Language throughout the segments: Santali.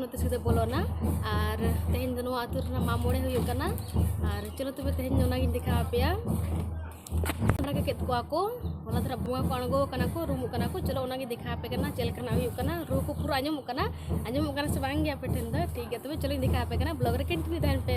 ᱱᱚᱛᱮ ᱥᱤᱫᱷᱟᱹ ᱵᱚᱞᱚᱱᱟ ᱟᱨ ᱛᱮᱦᱮᱧ ᱫᱚ ᱱᱚᱣᱟ ᱟᱹᱛᱩ ᱨᱮᱱᱟᱜ ᱢᱟᱜ ᱢᱚᱬᱮ ᱦᱩᱭᱩᱜ ᱠᱟᱱᱟ ᱟᱨ ᱪᱚᱞᱚ ᱛᱚᱵᱮ ᱛᱮᱦᱮᱧ ᱫᱚ ᱚᱱᱟᱜᱤᱧ ᱫᱮᱠᱷᱟᱣ ᱟᱯᱮᱭᱟ ᱚᱱᱟ ᱠᱮᱫ ᱠᱚᱣᱟ ᱠᱚ ᱚᱱᱟ ᱫᱷᱟᱨᱟ ᱵᱚᱸᱜᱟ ᱠᱚ ᱟᱬᱜᱚ ᱠᱟᱱᱟ ᱠᱚ ᱨᱩᱢᱩᱜ ᱠᱟᱱᱟ ᱠᱚ ᱪᱚᱞᱚ ᱚᱱᱟᱜᱮ ᱫᱮᱠᱷᱟᱣ ᱟᱯᱮ ᱠᱟᱱᱟ ᱪᱮᱫ ᱞᱮᱠᱟᱱᱟᱜ ᱦᱩᱭᱩᱜ ᱠᱟᱱᱟ ᱨᱩ ᱠᱚ ᱯᱩᱨᱟᱹ ᱟᱸᱡᱚᱢᱚᱜ ᱠᱟᱱᱟ ᱟᱸᱡᱚᱢᱚᱜ ᱠᱟᱱᱟ ᱥᱮ ᱵᱟᱝ ᱜᱮ ᱟᱯᱮ ᱴᱷᱮᱱ ᱫᱚ ᱴᱷᱤᱠ ᱜᱮᱭᱟ ᱛᱚᱵᱮ ᱪᱚᱞᱚᱧ ᱫᱮᱠᱷᱟᱣ ᱟᱯᱮ ᱠᱟᱱᱟ ᱵᱞᱚᱜᱽ ᱨᱮ ᱠᱚᱱᱴᱤᱱᱤᱭᱩ ᱛᱟᱦᱮᱱ ᱯᱮ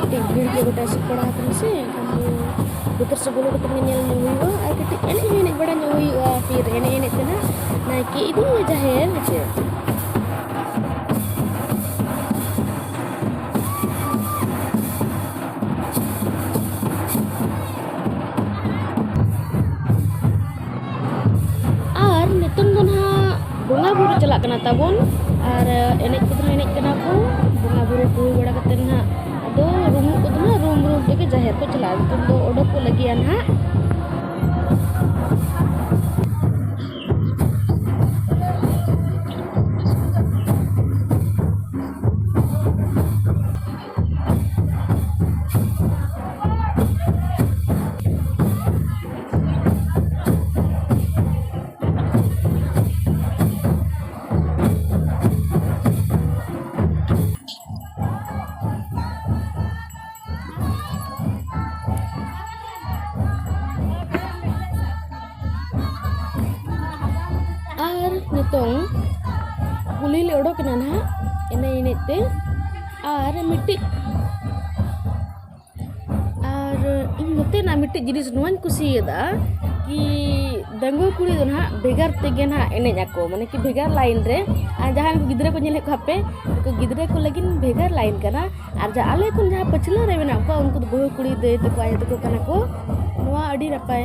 ᱠᱟᱹᱴᱤᱡ ᱵᱷᱤᱲ ᱜᱮ ᱜᱚᱴᱟ ᱮᱥᱮᱫ ᱵᱟᱲᱟ ᱟᱠᱟᱱᱟ ᱥᱮ ᱮᱱᱠᱷᱟᱱ ᱫᱚ ᱵᱚᱛᱚᱨ ᱥᱮ ᱵᱚᱞᱚ ᱠᱟᱛᱮ ᱧᱮᱞ ᱧᱚᱜ ᱦᱩᱭᱩᱜᱼᱟ ᱟᱨ ᱠᱟᱹᱴᱤᱡ ᱮᱱᱮᱡ ᱦᱚᱸ ᱮᱱᱮᱡ ᱵᱟᱲᱟ ᱧᱚᱜ ᱦᱩᱭᱩᱜᱼᱟ ᱯᱷᱤᱨ ᱮᱱᱮᱡ ᱮᱱᱮᱡ ᱛᱮ ᱱᱟᱜ ᱱᱟᱭᱠᱮ ᱤᱫᱤᱭᱮ ᱡᱟᱦᱮᱨ ᱦᱮᱸᱥᱮ ᱟᱨ ᱱᱤᱛᱚᱝ ᱫᱚ ᱱᱟᱦᱟᱜ ᱵᱚᱸᱜᱟ ᱵᱩᱨᱩ ᱪᱟᱞᱟᱜ ᱠᱟᱱᱟ ᱛᱟᱵᱚᱱ ᱟᱨ ᱮᱱᱮᱡ ᱠᱚᱫᱚ ᱮᱱᱮᱡ ᱠᱟᱱᱟ ᱠᱚ ᱵᱚᱸᱜᱟ ᱵᱩᱨᱩ ᱠᱚ ᱦᱩᱭ ᱵᱟᱲᱟ ᱠᱟᱛᱮᱫ ᱱᱟᱦᱟᱜ ᱟᱫᱚ ᱨᱩᱢᱩᱜ ᱠᱚᱫᱚ ᱱᱟᱦᱟᱜ ᱨᱩᱢ ᱨᱩᱢ ᱛᱮᱜᱮ ᱡᱟᱦᱮᱨ ᱠᱚ ᱪᱟᱞᱟᱜᱼᱟ ᱱᱤᱛᱚᱝ ᱫᱚ ᱚᱰᱚᱠ ᱠᱚ ᱞᱟᱹᱜᱤᱫᱼᱟ ᱱᱟᱦᱟᱜ ᱱᱤᱛᱚᱝ ᱠᱩᱞᱦᱤ ᱞᱮ ᱚᱰᱚᱠᱮᱱᱟ ᱱᱟᱦᱟᱜ ᱮᱱᱮᱡ ᱮᱱᱮᱡ ᱛᱮ ᱟᱨ ᱢᱤᱫᱴᱤᱡ ᱟᱨ ᱤᱧ ᱱᱚᱛᱮᱱᱟᱜ ᱢᱤᱫᱴᱤᱡ ᱡᱤᱱᱤᱥ ᱱᱚᱣᱟᱧ ᱠᱩᱥᱤᱭᱟᱫᱟ ᱠᱤ ᱰᱟᱺᱜᱩᱣᱟᱹ ᱠᱩᱲᱤ ᱫᱚ ᱱᱟᱦᱟᱜ ᱵᱷᱮᱜᱟᱨ ᱛᱮᱜᱮ ᱱᱟᱦᱟᱜ ᱮᱱᱮᱡ ᱟᱠᱚ ᱢᱟᱱᱮ ᱠᱤ ᱵᱷᱮᱜᱟᱨ ᱞᱟᱭᱤᱱ ᱨᱮ ᱟᱨ ᱡᱟᱦᱟᱸᱭ ᱜᱤᱫᱽᱨᱟᱹ ᱠᱚ ᱧᱮᱞᱮᱫ ᱠᱚᱣᱟ ᱯᱮ ᱩᱱᱠᱩ ᱜᱤᱫᱽᱨᱟᱹ ᱠᱚ ᱞᱟᱹᱜᱤᱫ ᱵᱷᱮᱜᱟᱨ ᱞᱟᱭᱤᱱ ᱠᱟᱱᱟ ᱟᱨ ᱡᱟᱦᱟᱸ ᱟᱞᱮ ᱠᱷᱚᱱ ᱡᱟᱦᱟᱸ ᱯᱟᱹᱪᱷᱞᱟᱹ ᱨᱮ ᱢᱮᱱᱟᱜ ᱠᱚᱣᱟ ᱩᱱᱠᱩ ᱫᱚ ᱵᱟᱹᱦᱩ ᱠᱩᱲᱤ ᱫᱟᱹᱭ ᱛᱟᱠᱚ ᱟᱭᱳ ᱛᱟᱠᱚ ᱠᱟᱱᱟ ᱠᱚ ᱱᱚᱣᱟ ᱟᱹᱰᱤ ᱱᱟᱯᱟᱭ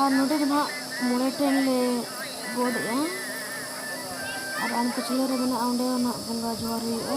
ᱟᱨ ᱱᱚᱰᱮ ᱫᱚ ᱱᱟᱦᱟᱜ ᱢᱚᱬᱮ ᱴᱷᱮᱱ ᱞᱮ ᱜᱚᱰ ᱮᱜᱼᱟ ᱟᱨ ᱟᱢ ᱯᱟᱹᱪᱷᱞᱟᱹ ᱨᱮ ᱢᱮᱱᱟᱜᱼᱟ ᱚᱸᱰᱮ ᱦᱚᱸ ᱱᱟᱦᱟᱜ ᱵᱚᱸᱜᱟ ᱡᱚᱦᱟᱨ ᱦᱩᱭᱩᱜᱼᱟ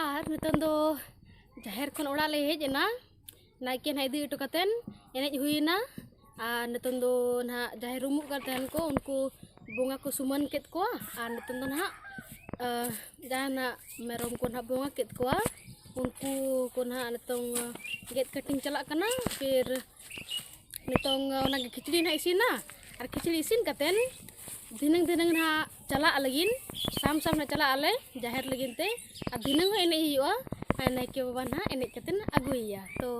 ᱟᱨ ᱱᱤᱛᱚᱝ ᱫᱚ ᱡᱟᱦᱮᱨ ᱠᱷᱚᱱ ᱚᱲᱟᱜ ᱞᱮ ᱦᱮᱡ ᱮᱱᱟ ᱱᱟᱭᱠᱮ ᱱᱟᱦᱟᱜ ᱤᱫᱤ ᱦᱚᱴᱚ ᱠᱟᱛᱮᱱ ᱮᱱᱮᱡ ᱦᱩᱭᱮᱱᱟ ᱟᱨ ᱱᱤᱛᱚᱝ ᱫᱚ ᱱᱟᱦᱟᱜ ᱡᱟᱦᱮᱨ ᱨᱩᱢᱩᱜ ᱠᱟᱱ ᱛᱟᱦᱮᱱ ᱠᱚ ᱩᱱᱠᱩ ᱵᱚᱸᱜᱟ ᱠᱚ ᱥᱩᱢᱟᱹᱱ ᱠᱮᱫ ᱠᱚᱣᱟ ᱟᱨ ᱱᱤᱛᱚᱝ ᱫᱚ ᱱᱟᱦᱟᱜ ᱡᱟᱦᱟᱱᱟᱜ ᱢᱮᱨᱚᱢ ᱠᱚ ᱱᱟᱦᱟᱜ ᱵᱚᱸᱜᱟ ᱠᱮᱫ ᱠᱚᱣᱟ ᱩᱱᱠᱩ ᱠᱚ ᱱᱟᱦᱟᱜ ᱱᱤᱛᱚᱝ ᱜᱮᱫ ᱠᱟᱹᱴᱤᱧ ᱪᱟᱞᱟᱜ ᱠᱟᱱᱟ ᱯᱷᱤᱨ ᱱᱤᱛᱚᱝ ᱚᱱᱟ ᱠᱷᱤᱪᱲᱤ ᱱᱟᱜ ᱤᱥᱤᱱᱟ ᱟᱨ ᱠᱷᱤᱪᱲᱤ ᱤᱥᱤᱱ ᱠᱟᱛᱮᱱ ᱫᱷᱤᱱᱟᱹᱝ ᱫᱷᱤᱱᱟᱹᱝ ᱱᱟᱜ ᱪᱟᱞᱟᱜ ᱞᱟᱹᱜᱤᱫ ᱥᱟᱢ ᱥᱟᱢ ᱱᱟᱜ ᱪᱟᱞᱟᱜ ᱟᱞᱮ ᱡᱟᱦᱮᱨ ᱞᱟᱹᱜᱤᱫ ᱛᱮ ᱟᱨ ᱫᱷᱤᱱᱟᱹᱝ ᱦᱚᱸ ᱮᱱᱮᱡ ᱦᱩᱭᱩᱜᱼᱟ ᱟᱨ ᱱᱟᱭᱠᱮ ᱵᱟᱵᱟ ᱱᱟᱜ ᱮᱱᱮᱡ ᱠᱟᱛᱮᱱ ᱟᱹᱜᱩᱭᱮᱭᱟ ᱛᱚ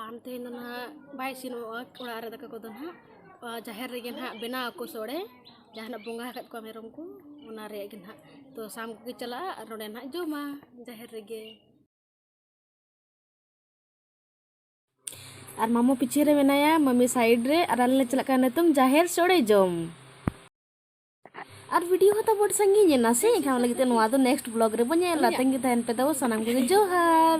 ᱟᱢ ᱛᱮᱦᱮᱧ ᱫᱚ ᱱᱟᱜ ᱵᱟᱭ ᱤᱥᱤᱱᱚᱜᱼᱟ ᱚᱲᱟᱜ ᱨᱮ ᱫᱟᱠᱟ ᱠᱚᱫᱚ ᱱᱟᱜ ᱡᱟᱦᱮᱨ ᱨᱮᱜᱮ ᱱᱟᱜ ᱵᱮᱱᱟᱣ ᱟᱠᱚ ᱥᱚᱲᱮ ᱡᱟᱦᱟᱱᱟᱜ ᱵᱚᱸᱜᱟ ᱟᱠᱟᱫ ᱠᱚᱣᱟ ᱢᱮᱨᱚᱢ ᱠᱚ ᱚᱱᱟ ᱨᱮᱭᱟᱜ ᱜᱮ ᱱᱟᱜ ᱛᱚ ᱥᱟᱢ ᱠᱚᱜᱮ ᱪᱟᱞᱟᱜᱼᱟ ᱟᱨ ᱱᱚᱰᱮ ᱱᱟᱜ ᱡᱚᱢᱟ ᱡᱟᱦᱮᱨ ᱨᱮᱜᱮ ᱟᱨ ᱢᱟᱢᱚ ᱯᱤᱪᱷᱮ ᱨᱮ ᱢᱮᱱᱟᱭᱟ ᱢᱟᱢᱤ ᱥᱟᱭᱤᱰ ᱨᱮ ᱟᱨ ᱟᱞᱮ ᱞᱮ ᱪᱟᱞᱟᱜ ᱠᱟᱱᱟ ᱱᱤᱛᱚᱝ ᱡᱟᱦᱮᱨ ᱥᱚᱲᱮ ᱡᱚᱢ ᱟᱨ ᱵᱷᱤᱰᱤᱭᱳ ᱦᱚᱸ ᱛᱟᱵᱚᱱ ᱥᱟᱺᱜᱤᱧ ᱮᱱᱟ ᱥᱮ ᱮᱱᱠᱷᱟᱱ ᱚᱱᱟ ᱞᱟᱹᱜᱤᱫ ᱛᱮ ᱱᱚᱣᱟ ᱫᱚ ᱱᱮᱠᱥᱴ ᱵᱞᱚᱜ ᱨᱮᱵᱚᱱ ᱧᱮᱞᱟ ᱛᱟᱺᱜᱤ ᱛᱟᱦᱮᱱ ᱯᱮ ᱛᱟᱵᱚ ᱥᱟᱱᱟᱢ ᱠᱚᱜᱮ ᱡᱚᱦᱟᱨ